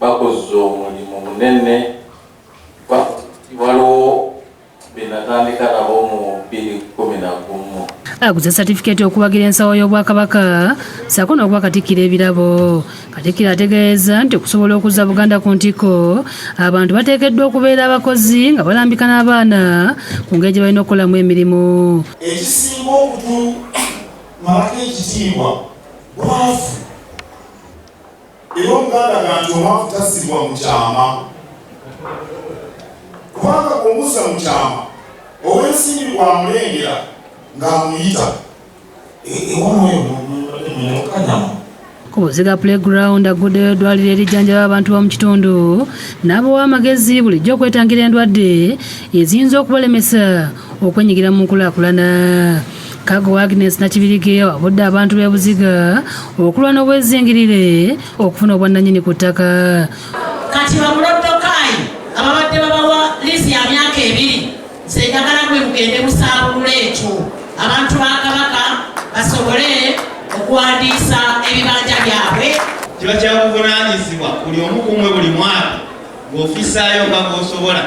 bakozze omulimu munene kuba waliwo benatandika nabo mu bbiri kumi na gumu aguze satifikeeti okuwagira ensawo y'obwakabaka saako n'okuba katikkiro ebirabo katikkiro ategeeza nti okusobola okuzza buganda ku ntikko abantu bateekeddwa okubeera abakozi nga balambika n'abaana ku ngeri gye balina okukolamu emirimu ekisinga okutumalako ekitiibwa bwavu Era omuganda ganti omwavu tasibwa mu kyama, kubanga bw'omuzza mu kyama ow'ensimbi bw'amulengera ng'amuyita ewano eyo mukanyama Kubuziga Playground agguddeyo eddwaliro erijjanjaba abantu b'omu kitundu n'abawa amagezi bulijjo okwetangira endwadde eziyinza okubalemesa okwenyigira mu nkulaakulana. Kago Agnes Nakibirige awabudde abantu b'e Buziga okulwa n'obwezingirire okufuna obwannanyini ku ttaka. Kati bamuloddokayi ababadde babawa liizi ya myaka ebiri nze njagala gwe mugende musaabulula ekyo abantu ba Kabaka basobole okuwandiisa ebibanja byabwe. Kiba kyakuvunaanyizibwa buli omu kumwe buli mwaka ng'ofisaayo nga bw'osobola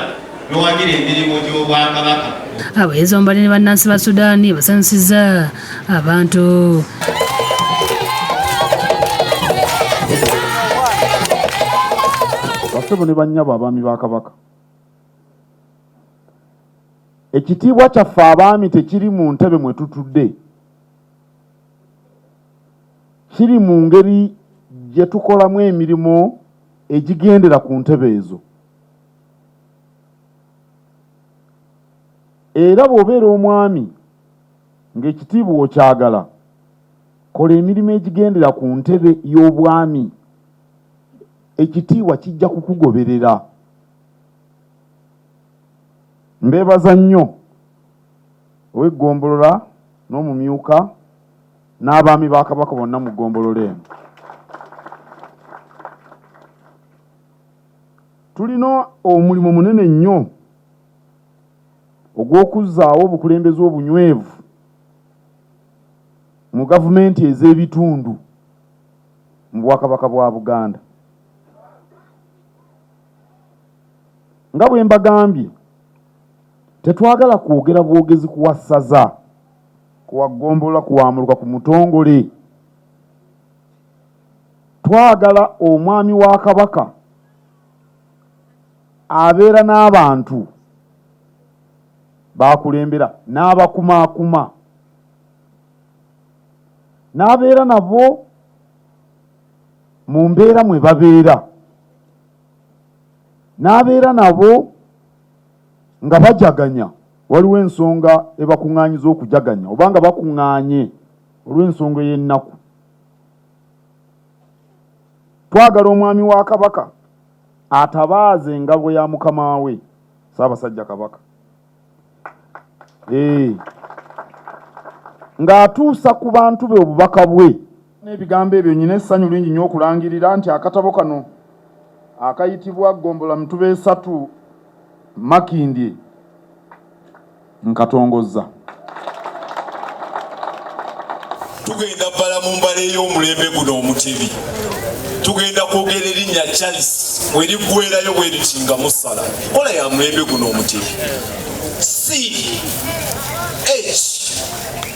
n'owagira emirimu gy'obwakabaka. Abayizi omubadde ne bannansi ba Sudaani basanyusizza abantu. Bassebo ne bannyabo abaami ba Kabaka. Ekitiibwa kyaffe abaami tekiri mu ntebe mwe tutudde, kiri mu ngeri gye tukolamu emirimu. egigendera ku ntebe ezo era bw'obeera omwami ng'ekitiibwa okyagala kola emirimu egigendera ku ntebe y'obwami ekitiibwa kijja kukugoberera mbeebaza nnyo ow'eggombolola n'omumyuka n'abaami ba Kabaka bonna mu ggombolola eno. Tulina omulimu munene nnyo ogw'okuzzaawo obukulembeze obunywevu mu gavumenti ez'ebitundu mu Bwakabaka bwa Buganda. Nga bwe mbagambye, tetwagala kwogera bwogezi kuwa ssaza. kuwa ggombolola kuwamuluka ku mutongole twagala omwami wa kabaka abeera n'abantu bakulembera n'abakumaakuma n'abeera nabo mu mbeera mwe babeera n'abeera nabo nga bajaganya Waliwo ensonga ebakuŋŋaanyiza okujaganya oba nga bakuŋŋaanye olw'ensonga ey'ennaku. Twagala Omwami wa Kabaka atabaaze engabo ya mukama we Ssaabasajja Kabaka ng'atuusa ku bantu be obubaka bwe. N'ebigambo ebyo nyina essanyu lingi nnyo okulangirira nti akatabo kano akayitibwa Gombola Mituba Esatu Makindye nkatongozza. Tugenda bbala mu mbala ey'omulembe guno omutebi tugenda kwogera erinnya Charles bwe liggwerayo bwe liti nga musala kola ya mulembe guno omutebi c h